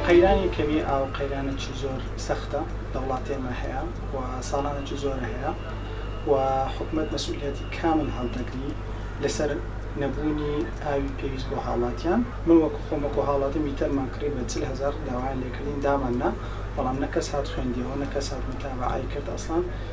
قەیرانی کەمی ئاو قەیرانێکی زۆر سەختە لە وڵاتی ئێمە هەیە و ساڵانێکی زۆرە هەیە و حکومەت مەسئولیەتی کامل هەڵدەگری لەسەر نەبوونی ئاوی پێویست بۆ هاوڵاتیان من وەکو خۆم وەکو هاوڵاتی میتەرمان کڕی بە چل هەزار داوایان لێکردین داماننا بەڵام نە کەس هات خوێندیەوە نە کەس هات متابەعەی کرد ئەسڵەن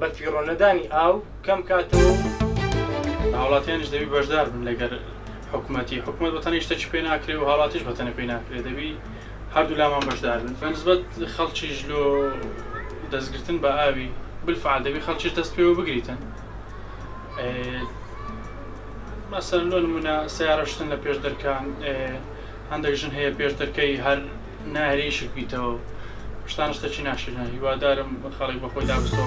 بە فیڕۆ نەدانی ئاو کەم کاتەوە و هاوڵاتیانش دەبی بەشدار بن لەگەر حکوومەتی حکوومەت بە تەنی شتەکی پێ ناکرێ و هاڵاتیش بە تەنە پێی ناکرێ دەبی هەردوو لامان بەشدار بن بەنسبەت خەڵکیش لۆ دەستگرتن بە ئاوی بالفعل دەبی خەڵکیش دەست پێوە بگریتن مەسەر لۆ نمونە سیارەشتن لە پێش دەرکان هەندێک ژن هەیە پێش دەرکەی هەر ناهێلێ ئیشک بیتەوە شتان شتە چی ناشرە هیوادارم خەڵک بە خۆی دابستەوە.